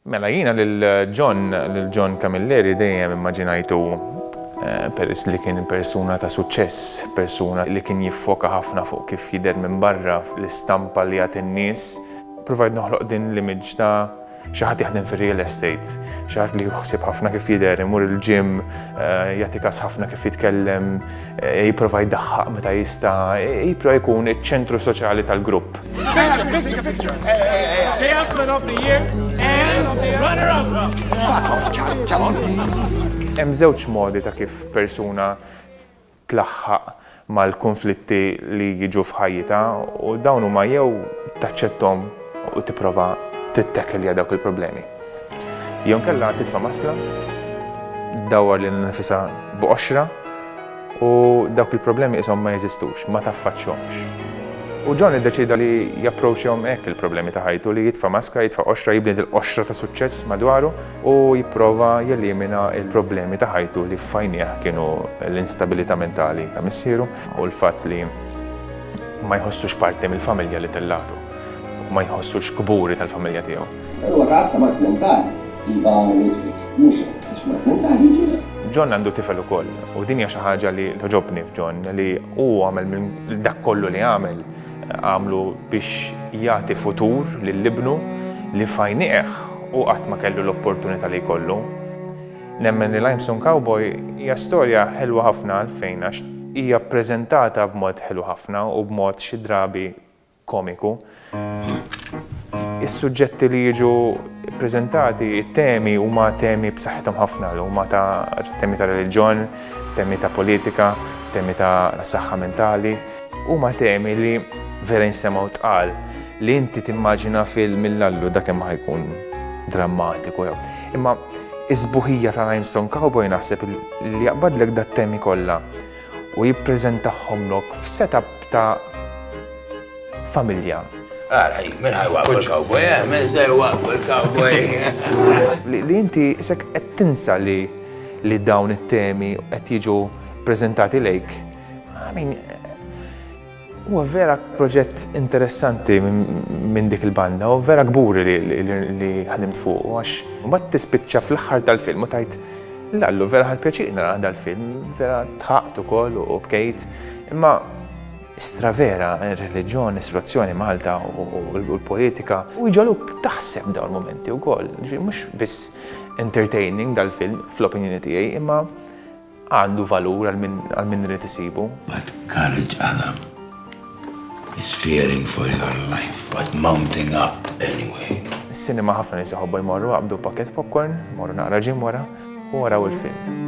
Mela jiena lil John, lil John Camilleri dejjem immaġinajtu peress li kien persuna ta' suċċess, persuna li kien jiffoka ħafna fuq kif jidher minn barra, l-istampa li jagħti n-nies. Ppruvajt noħloq din l-image ta' xi ħadd jaħdem fir-real estate, xi ħadd li hu ħsieb ħafna kif jidher, imur il-gym, jagħti kas ħafna kif jitkellem, Jipprova jdaħħaq meta jista', jipprova jkun iċ-ċentru soċjali tal-grupp. Hemm żewġ modi ta' kif persuna tlaħħaq mal-kunflitti li jiġu f'ħajjitha u dawn huma jew taċċettom u tipprova tittakilja dawk il-problemi. Jew inkella titfa' maskla, ddawwar lilha nnifisha b'qoxra u dawk il-problemi qishom ma jeżistux, ma taffaċċhomx. U John iddeċieda li japproachjahom hekk il-problemi ta' ħajtu, li jitfa' maskra, jitfa' qoxra, jibni dil-qoxra ta' suċċess madwaru u jipprova jelimina l-problemi ta' ħajtu li f'għajnejh kienu l-instabilità mentali ta' missieru u l-fatt li ma jħossux parti mill-familja li tellagħtu. u ma jħossux kburi tal-familja tiegħu. Dan huwa każ ta' mard mentali. Iva Ludwig, mhux hekk, għax mard mentali jġiegħlek. John għandu tifel ukoll, u din hija xi ħaġa li togħġobni f'John, li hu għamel minn dak kollu li għamel, għamlu biex jagħti futur lil ibnu li f'għajniegħ hu qatt ma kellu l-opportunità li jkollu. Nemmen li Limestone Cowboy hija storja ħelwa ħafna għalfejn għax hija ppreżentata b'mod ħelu ħafna u b'mod xi drabi komiku. Is-suġġetti li jiġu ppreżentati, it-temi huma temi b'saħħithom ħafna, huma ta' temi ta' reliġjon, temi ta' politika, temi ta' saħħa mentali, huma temi li vera jinsemgħu tqal li inti timmaġina film mill-allu dak hemm ħajkun drammatiku jew. Imma is-sbuħija ta' Limestone Cowboy naħseb li jaqbadlek dat-temi kollha u jippreżentahomlok f'setup ta' familja. Ara, min ħaj waqfu l-cowboy, eh? Min se waqfu l-cowboy? Li inti isek qed tinsa li li dawn it-temi qed jiġu preżentati lejk. I mean, Huwa vera proġett interessanti minn dik il-banda u vera kburi li ħdimt fuq għax mbagħad tispiċċa fl-aħħar tal-film u tajt l-allu vera ħad pjaċir nara dal-film, vera tħaqt ukoll u bkejt. Imma stra vera ir-reliġjon, is-situazzjoni Malta u l-politika u jġaluk taħseb dawn il-momenti wkoll. Mhux biss entertaining dal-film fl-opinjoni tiegħi, imma Għandu valur għal min għal min irid isibu. But courage Adam is fearing for your life but mounting up anyway. Is-sinema ħafna nies iħobbu jmorru qabdu pakket popcorn, morru naqra ġim wara u waraw il-film.